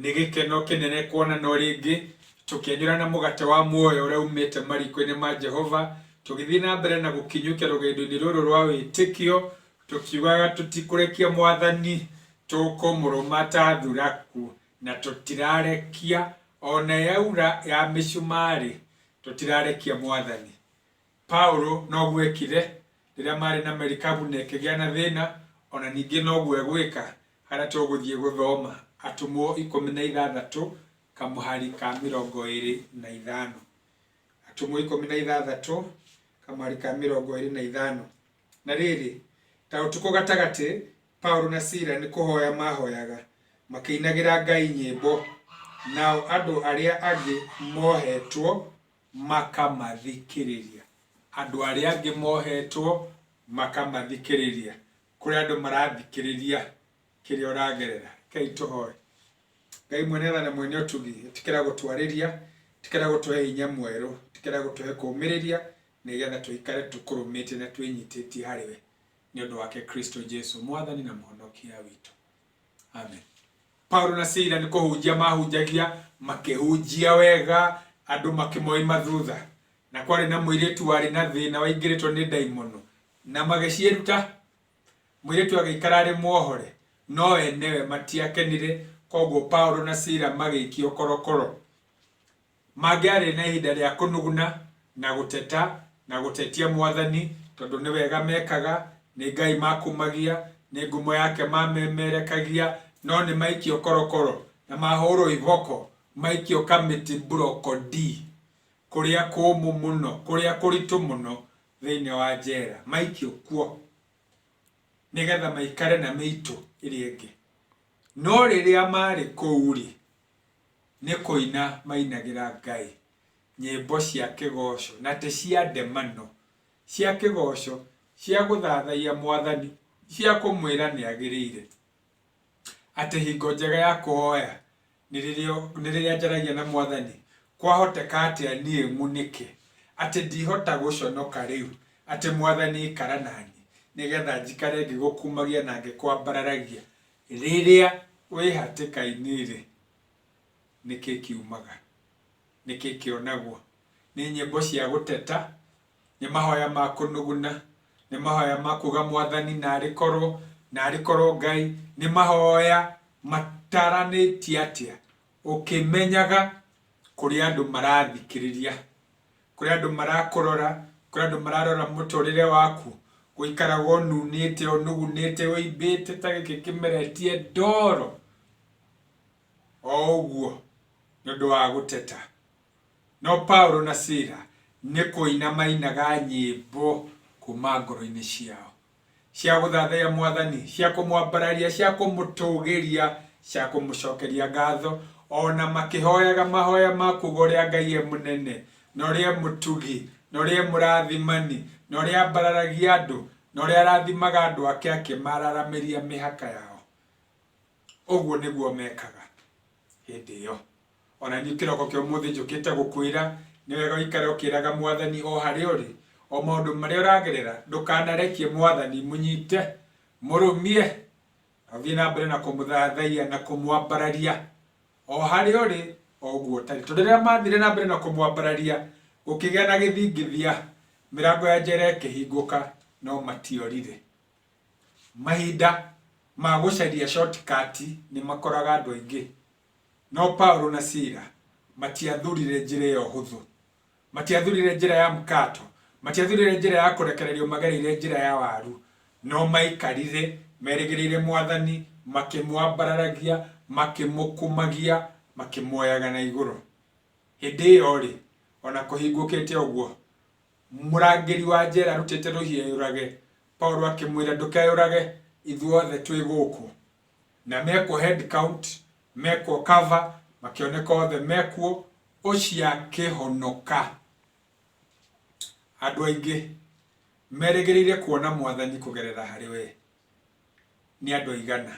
Nĩ gĩkeno kĩnene kuonana o rĩngĩ, tũkĩenyũra na mũgate wa muoyo ũrĩa uumĩte mariko-inĩ ma Jehova, tũgĩthiĩ na mbere na gũkinyũkia rũgendo-inĩ rũrũ rwa wĩtĩkio, tũkiugaga, Tũtikũrekia Mwathani, tũkũmũrũma ta thuraku, na tũtirarekia, o na yaura ya mĩcumarĩ, tũtirarekia Mwathani. Paulo noguo eekire rĩrĩa maarĩ na merikabu na ĩkĩgĩa na thĩna, o na ningĩ noguo egwĩka harĩa tũgũthiĩ gũthoma Atũmwo ikũmi na ithathatũ kamũhari ka mĩrongo ĩĩrĩ na ithano. Atũmwo ikũmi na ithathatũ kamũhari ka mĩrongo ĩĩrĩ na ithano. Na rĩrĩ, ta ũtukũ gatagatĩ, Paulo na Sila nĩ kũhoya maahoyaga, makĩinagĩra Ngai nyĩmbo, nao andũ arĩa angĩ moohetwo makamathikĩrĩria. Andũ arĩa angĩ mohetwo makamathikĩrĩria. Kũrĩ andũ marathikĩrĩria kĩrĩa ũragerera. Reke tũhoe. Ngai mwene tha na mwene ũtugi, ĩtĩkĩra gũtwarĩria, ĩtĩkĩra gũtũhe hinya mwerũ, ĩtĩkĩra gũtũhe kũmĩrĩria nĩgetha tũikare tũkũrũmĩte na twĩnyitĩtie harĩ we nĩ ũndũ wake Kristo Jesu, Mwathani na Mũhonokia witũ. Amen. Paulo na Sila nĩ kũhunjia mahunjagia makĩhunjia wega andũ makĩmoima thutha na kwarĩ na mũirĩtu warĩ na thĩna waingĩrĩtwo nĩ ndaimono na magĩciĩruta mũirĩtu agĩikara arĩ muohore no enewe matiakenire koguo Paulo na Sila magĩikio korokoro Mangĩarĩ na ihinda rĩa kũnuguna, na gũteta, na gũtetia Mwathani, tondũ nĩ wega mekaga, nĩ Ngai makumagia, nĩ ngumo yake mamemerekagia, no nĩ maikio korokoro, na mahũũrwo iboko, maikio kamĩtĩ mburoko-ndi, kũrĩa kũũmũ mũno, kũrĩa kũritũ mũno, thĩinĩ wa njera, maikio kuo, nĩgetha maikare na mĩitũ ĩrĩa ĩngĩ. No rĩrĩa maarĩ kũu-rĩ, Nĩ kũina mainagĩra Ngai nyĩmbo cia kĩgooco, na ti cia ndemano, cia kĩgooco, cia gũthathaiya Mwathani, cia kũmwĩra nĩ agĩrĩire, atĩ hingo njega ya kũhoya nĩ rĩrĩa nĩ rĩrĩa njaragia na Mwathani, kwahoteka atĩa niĩ ng'unĩke, atĩ ndihota gũconoka rĩu, atĩ Mwathani ikara naniĩ, nĩgetha njikare ngĩgũkumagia na ngĩkwambararagia. Rĩrĩa wĩ hatĩka-inĩ-rĩ, nĩ kĩĩ kiumaga? Nĩ kĩĩ kĩonagwo? Nĩ nyĩmbo cia gũteta? Nĩ mahoya ma kũnũgũna? Nĩ mahoya ma kuga Mwathani narĩ korwo, narĩ korwo Ngai? Nĩ mahoya mataranĩtie atĩa, ũkĩmenyaga kũrĩa andũ marathikĩrĩria kũrĩ andũ marakũrora, kũrĩ andũ mararora mũtũrĩre waku, gũikaraga ũnunĩte, ũnugunĩte, ũimbĩte ta gĩkĩ kĩmera etie ndoro, o ũguo nĩ ũndũ wa gũteta. No Paulo na Sila nĩ kũina mainaga nyĩmbo kuma ngoro-inĩ ciao. cia gũthathaiya Mwathani, cia kũmwambararia, cia kũmũtũgĩria, cia kũmũcokeria ngatho, o na makĩhoyaga mahoya ma kuuga ũrĩa Ngai e mũnene, na ũrĩa e mũtugi, na ũrĩa e mũrathimani, na ũrĩa ambararagia andũ, na ũrĩa arathimaga andũ ake akĩmararamĩria mĩhaka yao. Ũguo nĩguo mekaga hĩndĩ ĩyo. O na niĩ kĩroko kĩa ũmũthĩ njũkĩte gũkwĩra, nĩ wega ũikare ũkĩraga Mwathani o harĩa ũrĩ, o maũndũ marĩa ũragerera, ndũkanarekie Mwathani, mũnyite, mũrũmie, na ũthiĩ na mbere na kũmũthathaiya na kũmwambararia, o harĩa ũrĩ, o ũguo ũtarĩ. Tondũ rĩrĩa mathire na mbere na kũmwambararia, gũkĩgĩa na gĩthingithia, mĩrango ya njera ĩkĩhingũka, no matiorire. Mahinda ma gũcaria shortcut nĩ makoraga andũ aingĩ. No Paulo na Sila matiathurire njĩra ĩyo hũthũ. Matiathurire njĩra ya mkato. Matiathurire njĩra ya kũrekererio magereire njĩra ya waru. No maikarire merĩgĩrĩire Mwathani, makĩmwambararagia, makĩmũkumagia, makĩmuoyaga na igũrũ. Hĩndĩ ĩyo-rĩ, o na kũhingũkĩte ũguo, mũrangĩri wa njera arutĩte rũhiũ eyũrage, Paulo akĩmwĩra, Ndũkeyũrage, ithuothe twĩ gũkũ. na mekwo head count, mekwo cover, makĩoneka othe mekwo, ũcio akĩhonoka. Andũ aingĩ merĩgĩrĩire kuona Mwathani kũgerera harĩ we. Nĩ andũ aigana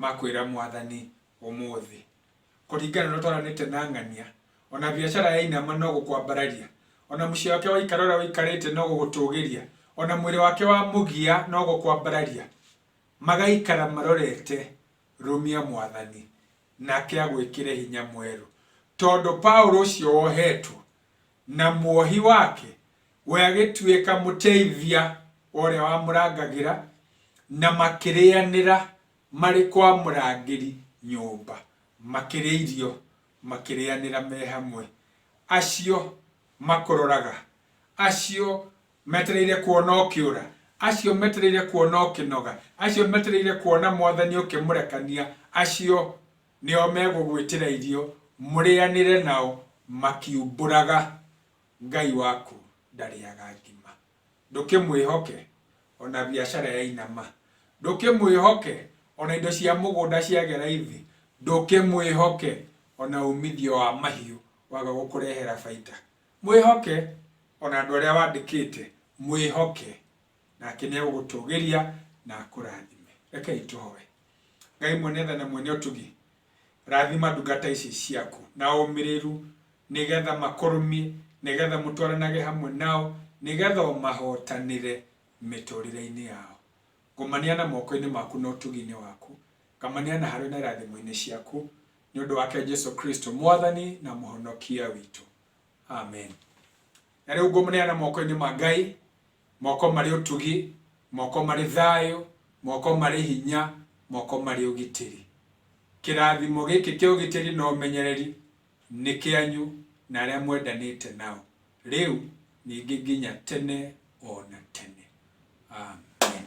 makwĩra Mwathani ũmũthĩ? Kũringana na ũrĩa twaranĩte na ng'ania, ona biacara yainama no gũkwambararia, ona mũciĩ wake waikara ũrĩa ũikarĩte no gũgũtũgĩria, ona mwĩrĩ wake wamũgia no gũkwambararia. Magaikara marorete rũmia Mwathani, nake agwĩkĩre hinya mwerũ. Tondũ Paũlũ ũcio wohetwo, na muohi wake, we agĩtuĩka mũteithia wa ũrĩa wamũrangagĩra, na makĩrĩanĩra marĩ kwa mũrangĩri nyũmba, makĩrĩa irio, makĩrĩanĩra me hamwe, acio makũroraga, acio Metereire kuona ũkĩũra, acio metereire kuona ũkĩnoga, acio metereire kuona Mwathani ũkĩmũrekania, acio nĩo megũgwĩtĩra irio mũrĩanĩre nao makiumbũraga. Ngai waku ndarĩaga ngima. Ndũkĩmwĩhoke o na biacara yainama. Ndũkĩmwĩhoke o na indo cia mũgũnda ciagĩa raithi. Ndũkĩmwĩhoke o na umithio wa mahiũ waga gũkũrehera baita. Mwĩhoke, o na andũ arĩa wandĩkĩte, mwĩhoke, nake nĩegũgũtũgĩria na akũrathime. Rekei tũhoe. Ngai mwene tha na mwene ũtugi, rathima ndungata ici ciaku na ũmĩrĩru, nĩgetha makũrũmie, nĩgetha mũtwaranage hamwe nao, nĩgetha ũmahotanĩre mĩtũrĩre-inĩ yao. Ngũmaneana moko-inĩ maku na ũtugi-inĩ waku, ngamaneana harĩ we na irathimo-inĩ ciaku. nĩ ũndũ wake Jesu Kristo, Mwathani na Mũhonokia witũ. Amen. Na rĩu ngũmũneana moko-inĩ ma Ngai, moko marĩ ũtugi, moko marĩ thayũ, moko marĩ hinya, moko marĩ ũgitĩri. Kĩrathimo gĩkĩ kĩa ũgitĩri na ũmenyereri nĩ kĩanyu na arĩa mwendanĩte nao, rĩu ningĩ nginya tene o na tene. Amen.